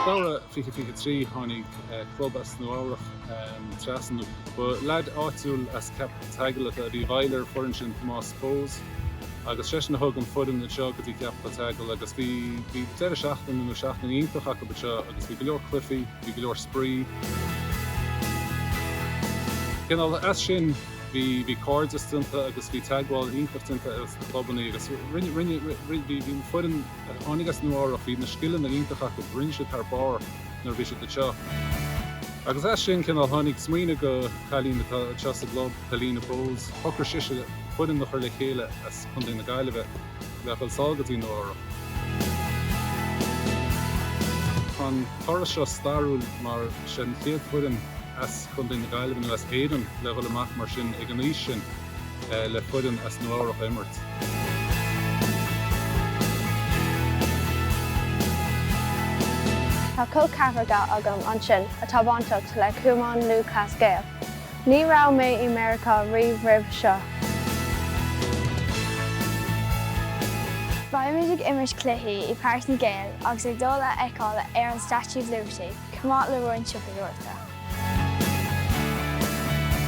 Feabhra 2023, Tháinig club as Nua Eabhrach trasna. Ba leaid áitiúil as Ceapaigh an tSeagail a bhí i bhfeighil ar foireann sin, Tomás Bowes, agus seisean a thug an foireann anseo go dtí Ceapaigh an tSeagail agus bhí deireadh seachtaine nó seachtain iontach acu anseo agus bhí go leor cluichí, bhí go leor spraoi. Cineál as sin. bhí, bhí cairdeas déanta agus bhí teagmháil iontach déanta ar na clubannaí agus bhí an foireann a tháinig as Nua Eabhrach, bhí na scileanna iontach acu, rinne siad thar barr nuair a bhí siad anseo. Agus as sin, cineál, tháinig smaoineamh go cailín atá anseo sa gclub, Helena Bowes, shocair sise foireann a chur le chéile as Contae na Gaillimhe le a dhul sall go dtí Nua Eabhrach. Tá an turas seo stairiúil mar is é an chéad foireann as. Contae na Gaillimhe nó as Éirinn le dhul amach mar sin ag an aois sin le foireann as Nua Eabhrach a imirt. Tá col ceathracha agam ansin atá bainteach le Cumann Lúthchleas Gael. Ní raibh mé i Meiriceá riamh roimhe seo. Beimid ag imirt cluichí i Páirc na nGael agus ag dul a fheiceáil ar an Statue of Liberty chomh maith le roinnt siopadóireachta.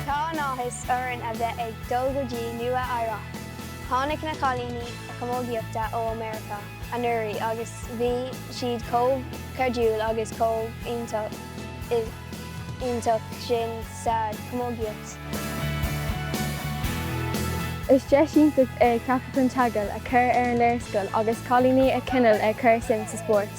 Tá an-áthas orainn a bheith ag dul go dtí Nua Eabhrac. Tháinig na cailíní camógaíochta ó America anuraidh agus bhí siad chomh cairdiúil agus chomh iontach sin sa chamógaíocht. Is deis iontach é Ceapaigh an tSeagail a chur ar an léarscáil agus cailíní a choinneáil ag cur suim sa spórt.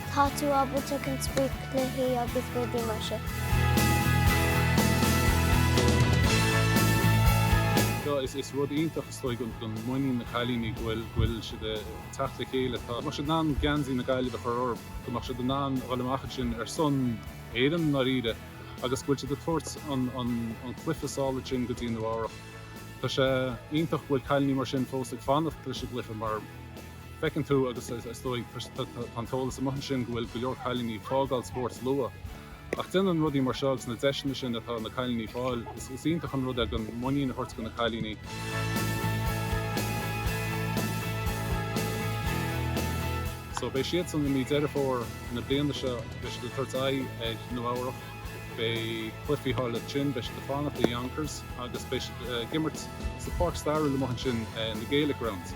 Tá tú ábalta an spraoi, cluichí agus rudaí mar sin. Tá, is rud iontach is dóigh don muinín na cailíní go bhfuil siad ag teacht le chéile. Tá, go mbeadh siad in ann geansaí na Gaillimhe a chur orthu, go mbeadh siad in ann a dhul amach ansin ar son Éireann i ndáiríre agus go bhfuil siad ag tabhairt an cluiche sall ansin go dtí Nua Eabhrach. Tá sé iontach go bhfuil cailíní mar sin fós ag fanacht leis an gcluiche mar, Feiceann tú, agus is dóigh, tá an t-eolas amuigh ansin, go bhfuil go leor cailíní ag fágáil spóirt luath. Ach déanann rudaí mar seo agus na deiseanna sin atá ag na cailíní fáil, is iontach an rud é an muinín a thabhairt go na cailíní. So beidh siadsan i mí Deireadh Fómhair na bliana seo, beidh siad ag tabhairt aghaidh ar Nua Eabhrach, beidh cluichí thall ansin, beidh siad ag fanacht i Yonkers agus beidh siad ag imirt sa pháirc stairiúil amuigh ansin, na Gaelic Grounds.